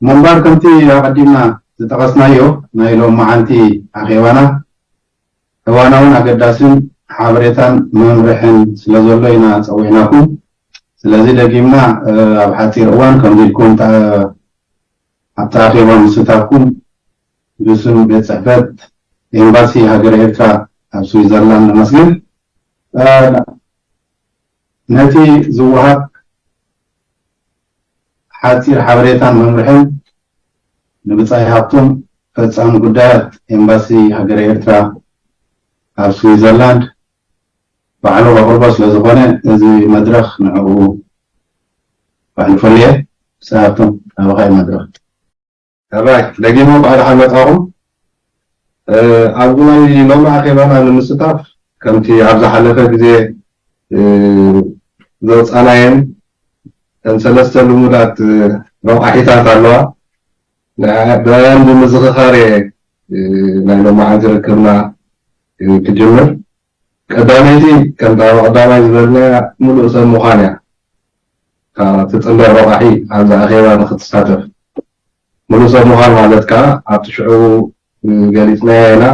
ምበር ከምቲ ኣቐዲምና ዝጠቐስናዮ ናይ ሎምዓንቲ ኣኼባና እዋናውን ኣገዳሲን ሓበሬታን መምርሕን ስለዘሎ ኢና ጸዊዕናኩም። ስለዚ ደጊምና ኣብ ሓጺር እዋን ከምዚ ኢልኩም ኣብቲ ኣኼባ ምስታፍኩም ብስም ቤት ጽሕፈት ኤምባሲ ሃገረ ኤርትራ ኣብ ስዊዘርላንድ ነመስግን። ነቲ ዝወሃብ። ሓጺር ሓበሬታን መምርሕን ንብጻይ ሃብቶም ፈጻሚ ጉዳያት ኤምባሲ ሃገረ ኤርትራ ኣብ ስዊዘርላንድ ባዕሉ ከቕርቦ ስለ ዝኾነ እዚ መድረኽ ንዕኡ ባዕሉ ፈልየ ብጻይ ሃብቶም ናባኻ እዩ መድረኽ። ሕራይ ደጊመ እንኳዕ ደሓን መጻኹም። ኣብዚ ናይ ሎሚ ኣኼባና ንምስታፍ ከምቲ ኣብ ዝሓለፈ ግዜ ዘውጻናየን እተን ሰለስተ ልሙዳት ረቋሒታት ኣለዋ ንዕኣን ብምዝኽኻር እየ ናይ ሎማዓንቲ ርክብና ክጅምር። ቀዳመይቲ ከምቲ ኣብ ኣቐዳማይ ዝበልናያ ምሉእ ሰብ ምዃን እያ። እታ ትጽንበር ረቛሒ ኣብዚ ኣኼባ ንኽትሳተፍ። ምሉእ ሰብ ምዃን ማለት ከኣ ኣብቲ ሽዑ ዝገሊጽናዮ ኢና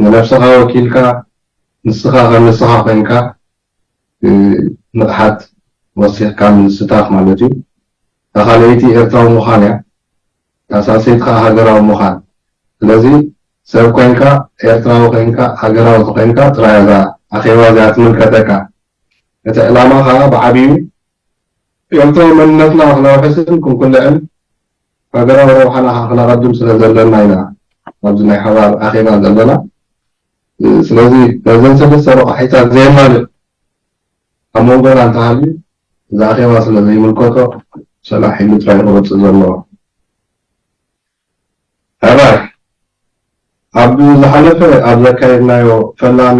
ንነብስኻ ወኪልካ ንስኻ ከም ንስኻ ኮንካ ንቕሓት ወሲኽካ ምዝስታፍ ማለት እዩ። እታ ካልኣይቲ ኤርትራዊ ምዃን እያ። ተሳሲትካ ሃገራዊ ምዃን ስለዚ ሰብ ኮንካ ኤርትራዊ ኮንካ ሃገራዊ ተኾይንካ ጥራይ እዛ ኣኼባ እዚኣ ትምልከተካ እቲ ዕላማ ከኣ ብዓቢኡ ኤርትራዊ መንነትና ክነውሕስን ክንኩልዕን ሃገራዊ ረብሓና ከኣ ክነቐድም ስለ ዘለና ኢና ኣብዚ ናይ ሓባር ኣኼባ ዘለና ስለዚ ነዘን ሰለስተ ረቛሒታት ዘየማልእ ኣብ መንጎና እንተሃልዩ እዚ ኣኼባ ስለ ዘይምልከቶ ሰላሕ ኢሉ ጥራይ ክወጽእ ዘለዎ። ሕራይ ኣብ ዝሓለፈ ኣብ ዘካየድናዮ ፈላሚ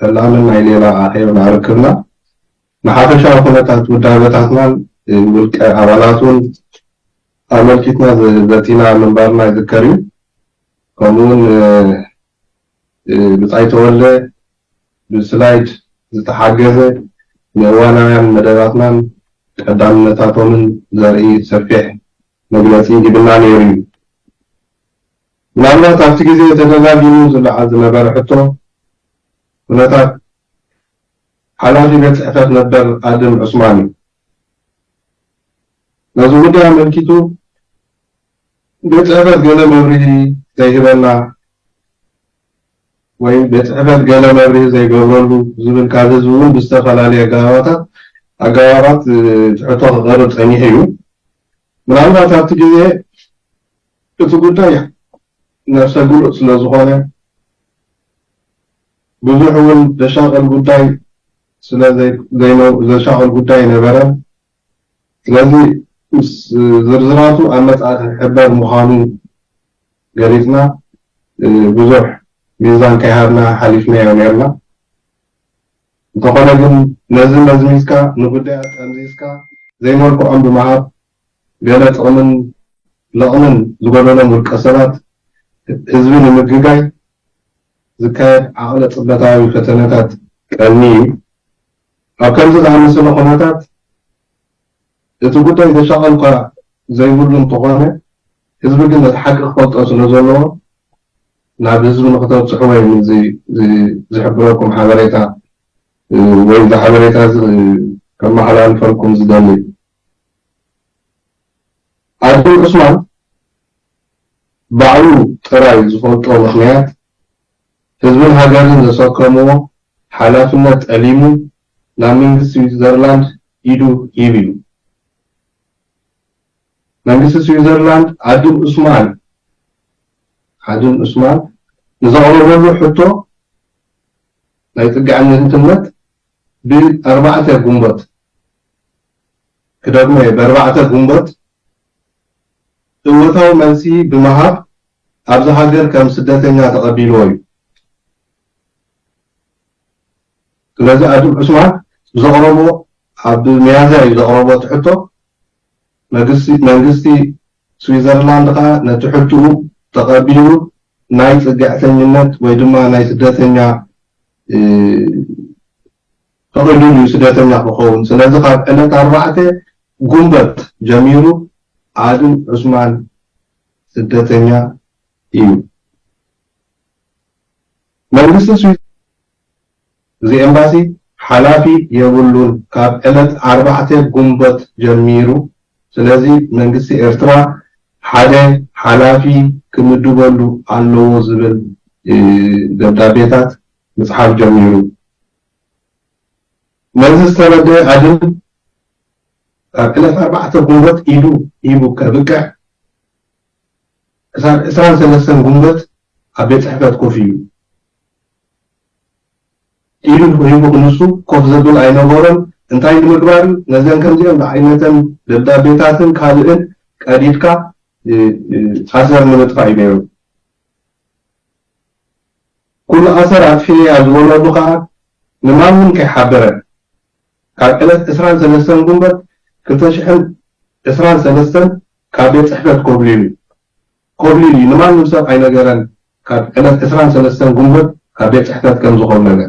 ፈላምን ናይ ሌላ ኣኼብና ርክብና ንሓፈሻዊ ኩነታት ውዳበታትናን ውልቀ ኣባላቱን ኣመልኪትና ዘቲና ምንባርና ይዝከር እዩ። ከምኡውን ብጻይ ተወልደ ብስላይድ ዝተሓገዘ ንእዋናውያን መደባትናን ቀዳምነታቶምን ዘርኢ ሰፊሕ መግለጺ ሂብና ነይሩ'ዩ። ምናልባት ኣብቲ ግዜ ተደጋጊሙ ዝለዓል ዝነበረ ሕቶ፣ ኩነታት ሓላፊ ቤት ጽሕፈት ነበር ኣድም ዑስማን'ዩ። ነዚ ጉዳይ ኣመልኪቱ ቤት ጽሕፈት ገለ መብርሂ ዘይህበና፣ ወይ ቤት ጽሕፈት ገለ መብርሂ ዘይገብረሉ ዝብል ካብ ህዝቢ እውን ብዝተፈላለየ ኣገባባታት ኣገባባት ሕቶ ክቐርብ ጸኒሑ እዩ። ምናልባት ኣብቲ ግዜ እቲ ጉዳይ ነብሰ ግሉጽ ስለ ዝኾነ ብዙሕ እውን ዘሻቕል ጉዳይ ስለ ዘይዘሻቕል ጉዳይ ኣይነበረን። ስለዚ ምስ ዝርዝራቱ ኣብ መጽኣቲ ክሕበር ምዃኑ ገሊጽና ብዙሕ ሚዛን ከይሃብና ሓሊፍናዮ ኔርና። እንተኾነ ግን ነዚ መዝሚዝካ ንጉዳያት ጠምዚዝካ ዘይመልክዖም ብምሃብ ገለ ጥቕምን ለቕምን ዝጎደሎም ውልቀሰባት ህዝቢ ንምግጋይ ዝካየድ ዓቕለ ጽበታዊ ፈተነታት ቀንዩ ኣብ ከምዚ ዝኣመሰለ ኩነታት እቲ ጉዳይ ዘሻቐል'ኳ ዘይብሉ እንተኾነ፣ ህዝቢ ግን ነቲ ሓቂ ክፈልጦ ስለ ዘለዎ ናብ ህዝቢ ንኽተብጽሕዎ እየ ምዚ ዝሕብረኩም ሓበሬታ ወይ እዚ ሓበሬታ'ዚ ከመሓላልፈልኩም ዝደሊ። ኣደም ዑስማን ባዕሉ ጥራይ ዝፈልጦ ምኽንያት ህዝብን ሃገርን ዘሰከምዎ ሓላፍነት ጠሊሙ ናብ መንግስቲ ስዊትዘርላንድ ኢዱ ሂብ እዩ። መንግስቲ ስዊትዘርላንድ ኣድም ዑስማን ኣድም ዑስማን ንዘቕረበሉ ሕቶ ናይ ጽግዕነትነት ብ ኣርባዕተ ግንቦት፣ ክደግሞ'የ፣ ብ ኣርባዕተ ግንቦት እወታዊ መልሲ ብምሃብ ኣብዛ ሃገር ከም ስደተኛ ተቐቢልዎ'ዩ። ስለዚ ኣቶ ዑስማን ብዘቕረቦ ኣብ ሚያዝያ'ዩ ዘቕረቦ'ቲ ሕቶ፣ መንግስቲ ስዊዘርላንድ ከኣ ነቲ ሕቱኡ ተቐቢሉ ናይ ጽግዕተኝነት ወይ ድማ ናይ ስደተኛ ፈቂዱሉ እዩ ስደተኛ ክኸውን ስለዚ ካብ ዕለት ኣርባዕተ ጉንበት ጀሚሩ ኣድም ዑስማን ስደተኛ እዩ መንግስቲ ስዊዝ እዚ ኤምባሲ ሓላፊ የብሉን ካብ ዕለት ኣርባዕተ ጉንበት ጀሚሩ ስለዚ መንግስቲ ኤርትራ ሓደ ሓላፊ ክምድበሉ ኣለዎ ዝብል ደብዳቤታት ምጽሓፍ ጀሚሩ። ነዚ ዝተረደኣ ኣድም ካብ ዕለት ኣርባዕተ ግንቦት ኢዱ ሂቡ ከብቅዕ ክሳብ ዕስራን ሰለስተን ግንቦት ኣብ ቤት ጽሕፈት ኮፍ ኢሉ። ኢዱ ልቡ ሂቡ ክንሱ ኮፍ ዘብል ኣይነበሮን፣ እንታይ ንምግባር ነዘን ከምዚኤን ዝዓይነተን ደብዳቤታትን ካልእን ቀዲድካ ኣሰር ንምጥፋእ እዩ ነይሩ። ኩሉ ኣሰር ኣጥፊኤያ ዝበለሉ ከኣ ንማንም ከይሓበረ ካብ ዕለት ዕስራን ሰለስተን ጉንበት ክልተ ሽሕን ዕስራን ሰለስተን ካብ ቤት ጽሕፈት ኮብሊሉ፣ ኮብሊሉ እዩ ንማንም ሰብ ኣይነገረን ካብ ዕለት ዕስራን ሰለስተን ግንቦት ካብ ቤት ጽሕፈት ከም ዝኾብለለ።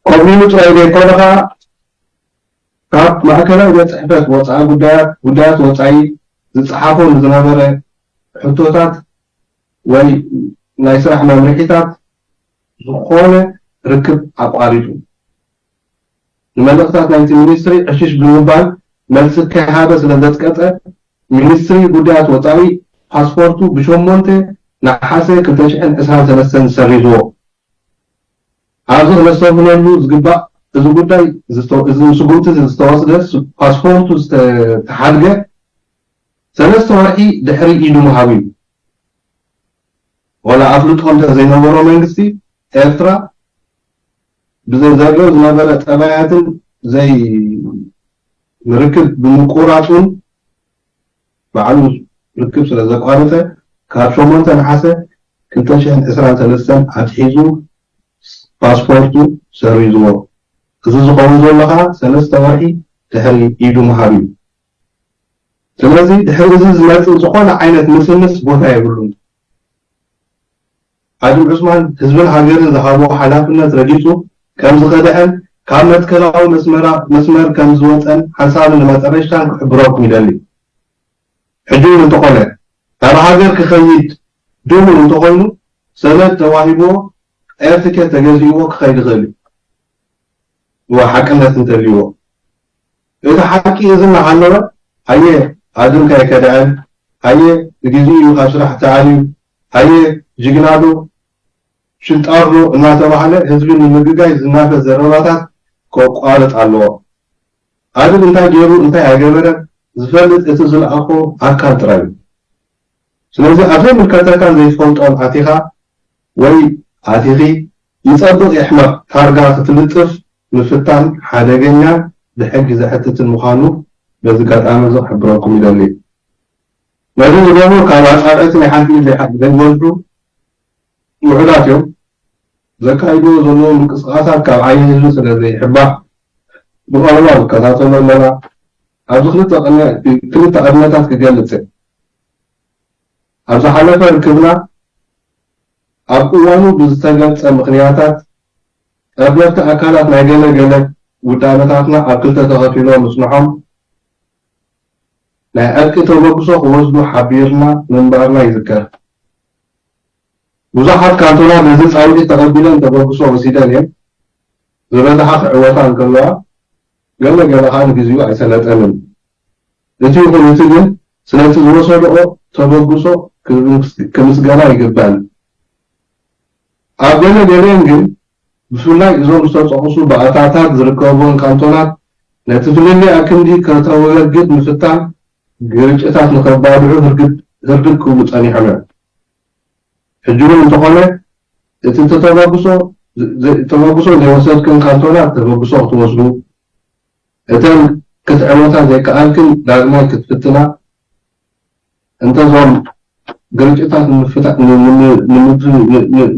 ኮብሊሉ ጥራይ ዘይኮነ ከኣ ካብ ማእከላይ ቤት ጽሕፈት ወጻኢ ጉዳያት ጉዳያት ወጻኢ ዝጸሓፎ ንዝነበረ ሕቶታት ወይ ናይ ስራሕ መምርሒታት ዝኾነ ርክብ ኣቋሪጹ። ንመልእኽታት ናይቲ ሚኒስትሪ ዕሽሽ ብምባል መልሲ ከይሃበ ስለ ዘጽቀጠ፣ ሚኒስትሪ ጉዳያት ወጻኢ ፓስፖርቱ ብሸሞንተ ነሓሰ ክልተ ሽሕን ዕስራን ሰለስተን ሰሪዝዎ። ኣብዚ ክነስተብህለሉ ዝግባእ እዚ ጉዳይ እዚ ስጉምቲዚ ዝተወስደ ፓስፖርቱ ዝተሓድገ ሰለስተ ወርሒ ድሕሪ ኢዱ ምሃቡ እዩ። ወላ ኣፍልጦ እንተዘይነበሮ መንግስቲ ኤርትራ፣ ብዘዛርዮ ዝነበረ ጠባያትን ዘይ ንርክብ ብምቁራጹን ባዕሉ ርክብ ስለ ዘቋረጸ ካብ ሸሞንተ ነሓሰ ክልተ ሽሕን ዕስራን ሰለስተን ኣትሒዙ ፓስፖርቱ ሰሪዝዎ። እዚ ዝኸውን ዘሎ ከኣ ሰለስተ ወርሒ ድሕሪ ኢዱ ምሃብ እዩ። ስለዚ ድሕሪ እዚ ዝመጽእ ዝኾነ ዓይነት ምስምስ ቦታ የብሉን። ሓጅ ዑስማን ህዝብን ሃገርን ዝሃቦ ሓላፍነት ረጊጹ ከም ዝኸደዐን ካብ መትከላዊ መስመር ከም ዝወጸን ሓንሳብን ንመጠረሽታን ክሕብረኩም ይደሊ። ሕጂውን እንተኾነ ናብ ሃገር ክኸይድ ድሉው እንተኾይኑ ሰነድ ተዋሂብዎ ኤር ትኬት ተገዚእዎ ክኸይድ ይኽእል እዩ እወ ሓቅነት እንተልይዎ እቲ ሓቂ እዚ እናሃለወ ሃየ ኣድምካ ኣይከደዐን ሃየ ብግዚኡ እዩ ካብ ስራሕ ተኣልዩ ሃየ ጅግና ዶ ሽንጣር ዶ እናተባህለ ህዝቢ ንምግጋይ ዝናፈስ ዘረባታት ከቋርጽ ኣለዎ። ኣድል እንታይ ገይሩ እንታይ ኣይገበረ ዝፈልጥ እቲ ዝልኣኾ ኣካል ጥራይ እዩ። ስለዚ ኣብ ዘይምልከተካን ዘይትፈልጦን ኣቲኻ ወይ ኣቲኺ፣ ይጸብቕ ይሕመቕ ታርጋ ክትልጥፍ ምፍታን ሓደገኛን ብሕጊ ዘሕትትን ምዃኑ በዚ ጋጣሚ እዚ ክሕብረኩም ይደሊ። ነዚ ዝገብሩ ካብ ኣጻብዕ እግሪ ሓንቲ ኢድ ዘይሓልፉ ዘይበዝሑ ውሑዳት እዮም። ዘካይድዎ ዘለዉ ምንቅስቓሳት ካብ ዓይኒ ህዝቢ ስለ ዘይሕባእ ብቐረባ ንከታተሎ ኣለና። ኣብዚ ክልተ ቅንያት እቲ ክልተ ኣብነታት ክገልጽ እየ። ኣብ ዝሓለፈ ርክብና ኣብ እዋኑ ብዝተገልጸ ምኽንያታት ጠርነፍቲ ኣካላት ናይ ገለ ገለ ውዳበታትና ኣብ ክልተ ተኸፊሎም ምጽንሖም፣ ናይ ዕርቂ ተበግሶ ክወስዱ ሓቢርና ምንባርና ይዝከር። ብዙሓት ካንቶናት ነዚ ጻውዒት ተቐቢለን ተበግሶ ወሲደን እየን፣ ዝበዝሓ ክዕወታ እንከለዋ ገለ ገለ ከኣ ንግዚኡ ኣይሰለጠንን። እቲ ይኹን እቲ ግን ስለቲ ዝወሰድኦ ተበግሶ ክምስገና ይግበኣን። ኣብ ገለ ገሊኤን ግን፣ ብፍላይ እዞም ዝተጠቕሱ ባእታታት ዝርከብወን ካንቶናት፣ ነቲ ፍልልይ ኣክንዲ ከተወግድ ምፍታን፣ ግርጭታት ንኸባልዑ ህርግድ ህርድግ ክብሉ ጸኒሖም እዮም። ሕጂውን እንተኾነ፣ እቲ ተተበግሶ ተበግሶ ዘይወሰድክን ካንቶናት ተበግሶ ክትወስዱ፣ እተን ክትዕወታ ዘይከኣልክን ዳግማይ ክትፍትና፣ እንተ እዞም ግርጭታት ንምፍታሕ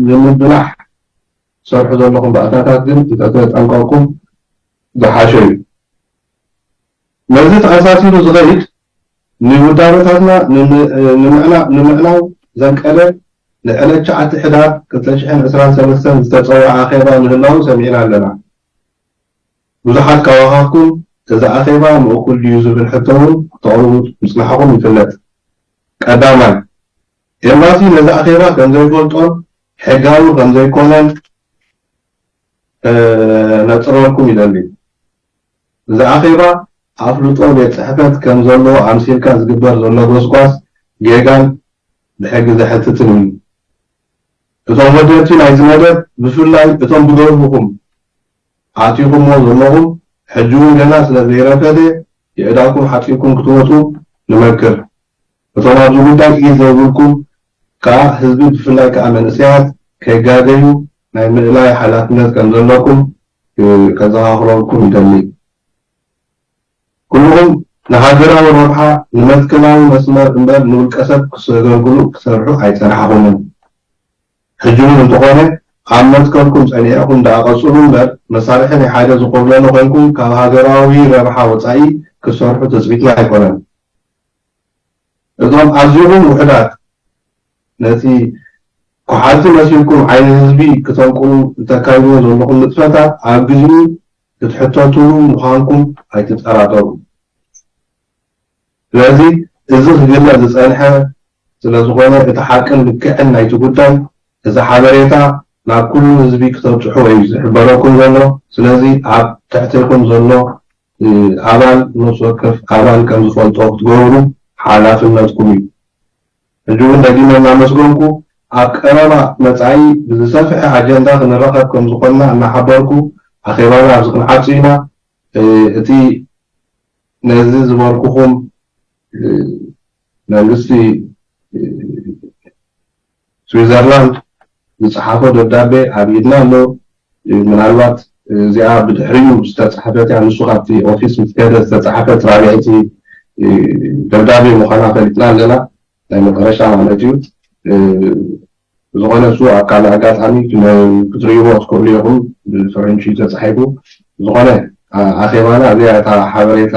ንምብላሕ ትሰርሑ ዘለኹም ባእታታት ግን እንተተጠንቀቕኩም ዝሓሸ እዩ። ነዚ ተኣሳሲሩ ዝኸይድ ንውዳበታትና ንምዕናው ዘንቀደ ናይ ዕለት ትሽዓተ ሕዳር ክልተ ሽሕን ዕስራን ሰለስተን ዝተጸውዐ ኣኼባ ምህላዉ ሰሚዕና ኣለና። ብዙሓት ካባኻትኩም እዚ ኣኼባ ምእኩል ድዩ ዝብል ሕቶ እውን ክተቕርቡ ምጽናሕኹም ይፍለጥ። ቀዳማይ፣ ኤምባሲ ነዚ ኣኼባ ከም ዘይፈልጦን ሕጋዊ ከም ዘይኰነን ከነጽረልኩም ይደሊ። እዚ ኣኼባ ኣፍልጦ ቤት ጽሕፈት ከም ዘለዎ ኣምሲልካ ዝግበር ዘሎ ጐስጓስ ጌጋን ብሕጊ ዘሕትትን እዩ። እቶም ወደብቲ ናይዚ መደብ፣ ብፍላይ እቶም ብደርሁኹም ኣእቲኹሞ ዘለኹም ሕጂ ውን ገና ስለ ዘይረከሰ የእዳኩም ሓጺብኩም ክትወጹ ንመክር እቶም ኣብዚ ጉዳይ ኢድ ዘይብልኩም ከኣ ህዝቢ ብፍላይ ከኣ መንእሰያት ከይጋገዩ ናይ ምእላይ ሓላፍነት ከም ዘለኩም ከዘኻኽረኩም ይደሊ ኩሉኹም ንሃገራዊ ረብሓ ንመትከላዊ መስመር እምበር ንውልቀሰብ ክሰገልግሉ ክሰርሑ ኣይጸናሕኹምን። ሕጂ ውን እንተኾነ ኣብ መትከልኩም ጸኒዕኩም ደኣ ቀጽሉ እምበር መሳርሒ ናይ ሓደ ዝኾብለለ ኮይንኩም ካብ ሃገራዊ ረብሓ ወጻኢ ክትሰርሑ ትጽቢትና ኣይኮነን። እዞም ኣዚኹም ውሑዳት ነቲ ኮሓልቲ መሲልኩም ዓይኒ ህዝቢ ክተንቁሩ እተካይድዎ ዘለኹም ንጥፈታት ኣብ ግዚኡ ክትሕተትሉ ምዃንኩም ኣይትጠራጠሩ። ስለዚ እዚ ክግለ ዝጸንሐ ስለ ዝኾነ እቲ ሓቅን ልክዕን ናይቲ ጉዳይ እዚ ሓበሬታ ናብ ኩሉ ህዝቢ ክተብጽሑ እዩ ዝሕበረኩም ዘሎ። ስለዚ ኣብ ትሕቴኩም ዘሎ ኣባል ነብሲ ወከፍ ኣባል ከም ዝፈልጦ ክትገብሩ ሓላፍነትኩም እዩ። ሕጂ ውን ደጊመ እናመስገንኩ ኣብ ቀረባ መጻኢ ብዝሰፍሐ ኣጀንዳ ክንራኸብ ከም ዝኾንና እናሓበርኩ ኣኼባና ኣብዚ ክንዓጹ ኢና። እቲ ነዚ ዝበልኩኹም መንግስቲ ስዊዘርላንድ ዝጸሓፎ ደብዳቤ ኣብ ኢድና ኣሎ፣ ምናልባት እዚኣ ብድሕሪኡ ዝተጻሕፈት እያ፣ ንሱ ካብቲ ኦፊስ ምስ ከደ ዝተጻሕፈት ራብዐይቲ ደብዳቤ ምዃና ፈሊጥና ኣለና። ናይ መጠረሻ ማለት እዩ ብዝኮነ እሱ ኣብ ካልእ ኣጋጣሚ ክትርእይዎ ትክእሉ ኢኩም ብፈረንጂ ተጻሒፉ ብዝኮነ ኣኼባና እዚኣ እታ ሓበሬታ